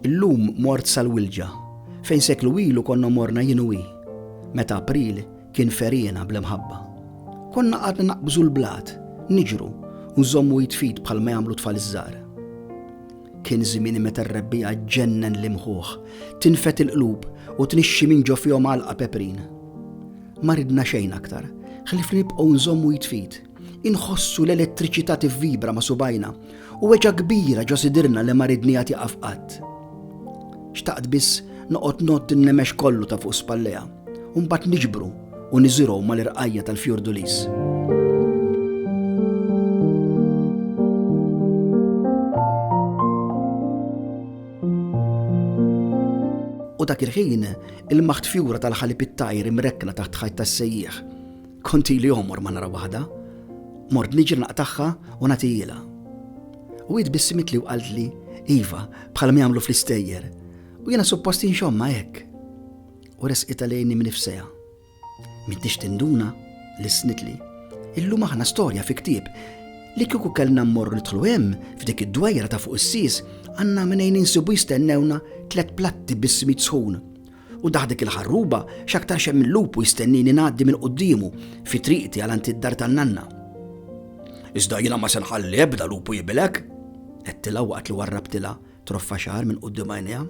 Illum mort sal-wilġa, fejn seklu ilu konna morna jinwi, meta April kien ferjena bl-imħabba. Konna għadna naqbżu l-blat, niġru, u nżommu jitfid bħal ma jagħmlu tfal iż-żar. Kien żmien meta r-rebbiegħa ġġennen l-imħuħ, tinfed il-qlub u tnixxi minn ġo fihom għalqa peprin. Ma ridna xejn aktar, ħlief li nibqgħu nżommu id f'id, inħossu l-elettriċità tivvibra ma' subgħajna u weġgħa kbira ġo sidirna li ma ridniha tieqaf qatt. Xtaqt biss noqgħod ngħodd in-nemex kollu ta' fuq spallejha. u mbagħad niġbru u niżirgħu mal-irqajja tal-fjordulis. U dak il-ħin, il-maħt fjura tal-ħalib it-tajr imrekkna taħt ħajt tas-sejjieħ. Konti li omor ma nara waħda, mort niġi naqtaħħa u natijila. U id bissimit li u qalt li, Iva, bħal mi għamlu fl-istejjer, u jena supposti nxomma hekk. u resqitha lejni mnifseha. M'intix tinduna li snitli. Illum aħna storja fi ktieb li kieku kellna mmorru nidħlu hemm f'dik id-dwejra ta' fuq is-sis għandna minejn insibu jistennewna tlet platti bis-smit sħun. U daħdek il-ħarruba x'aktar xem il-lupu jistennini ngħaddi minn quddiemu fi triqti għal anti d-dar tan-nanna. Iżda jiena ma se nħalli ebda lupu jibilek, qedtilha waqt li warrabtilha troffa xar minn qudiem għajnejha.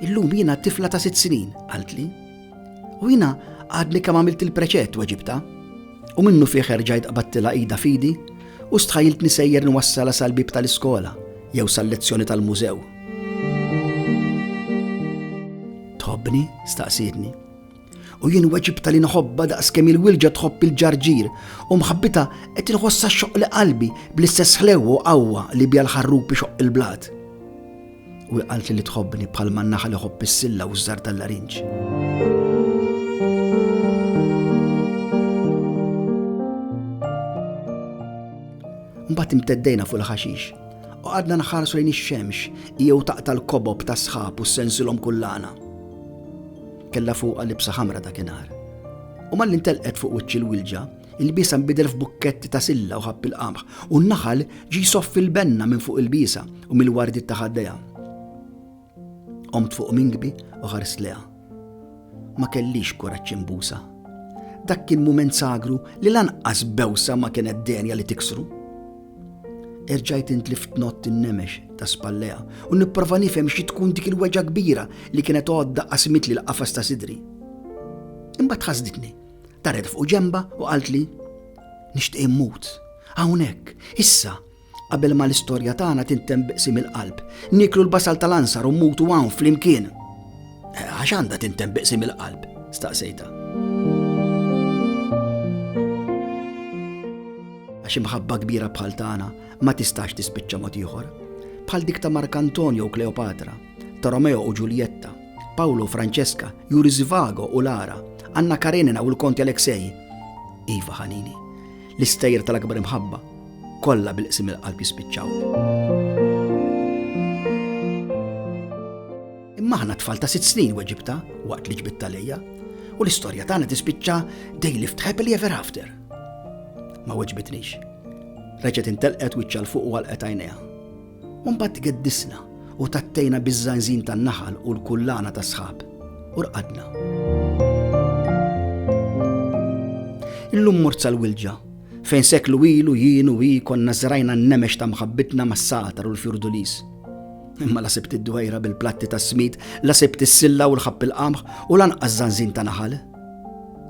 Illum jiena tifla ta' sitt snin, qaltli. U jiena għadni kemm għamilt il-preċett weġibta. U minnu fih erġajt qabattila ida fidi u stħajilt nisejjer nwassala sal-bib tal-iskola jew sal-lezzjoni tal-mużew. Tħobbni? staqsidni. U jien weġibta li nħobba daqs kemm il-wilġa tħobb il-ġarġir, u mħabbita qed inħossha xoq li qalbi bl-istess ħlew u qawwa li bija l-ħarrub ixoq il-blat. U qalt li tħobbni bħal man naħa li ħobb is-silla u ż-żar tal-larinġ. Mbagħad imteddejna fuq il-ħaxix u għadna nħarsu lejn ix-xemx jew taqta l-kobob tas-sħab u sensilhom kullana Kellha fuqha libsa ħamra dakinhar. U malli ntelqet fuq wiċċ il-wilġa, il-bisa nbidel f'bukketti ta' silla u ħapp il-qamħ, u n-naħal ġi jsoffi l-benna minn fuq il-bisa u mill-wardiet ta' ħaddejha. Qomt fuq minkbi u ħarst leha. Ma kellix kuraġġ imbusa. Dak kien mument sagru li lanqas bewsa ma kienet denja li tiksru. Erġajt intlift nott in-nemex ta' spallejha u nipprova nifhem xi tkun dik il-weġgħa kbira li kienet għodda qasmitli l-qafas ta' sidri. Imbagħad ħasditni, daret fuq ġenbha u qaltli, Nixtieq immut. Hawnhekk, issa, qabel ma l-istorja tagħna tintemm bi qsim il-qalb. Nieklu l-basal tal-ansar u mmutu hawn flimkien. Għax għandha tintemm biqsim il-qalb, staqsejta. Għax imħabba kbira bħal tagħna ma tistax tispiċċa mod ieħor. Bħal dik ta' Mark Antonio u Kleopatra, ta' Romeo u Ġuljetta, Paolo u Francesca, Juri Zivago u Lara, Anna Karenina u l-Konti Aleksej. Iva ħanini, l-istejjer tal-akbar imħabba, kollha bil-qsim il-qalb jispiċċaw. Imma aħna tfal ta' sitt snin weġibta waqt li ġbitta lejja u l-istorja tagħna tispiċċa they lived happily ever after. Ma weġbitnix. Reġet intelqet wiċċa l-fuq u għalqet għajnejha. Umbat geddisna u tattejna biż-żanżin tan-naħal u l-kullana ta' sħab. U rqadna. Illum mort sal-wilġa, fejn seklu ilu jien u hi konna zrajna n-nemex ta' mħabbitna mas-satar u l-fjurdulis. Imma la sibt id-dwejra bil-platti ta' smid, la sibt is-silla u l-ħabb il-qamħ u lanqas zanzin ta' naħal.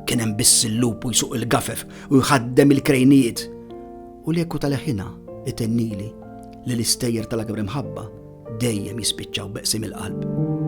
Kien hemm biss il-lupu jsuq il-gafef u jħaddem il-krejnijiet. U l-eku tal-ħina itennili li l-istejjer tal-akbar imħabba dejjem jispiċċaw beqsim il-qalb.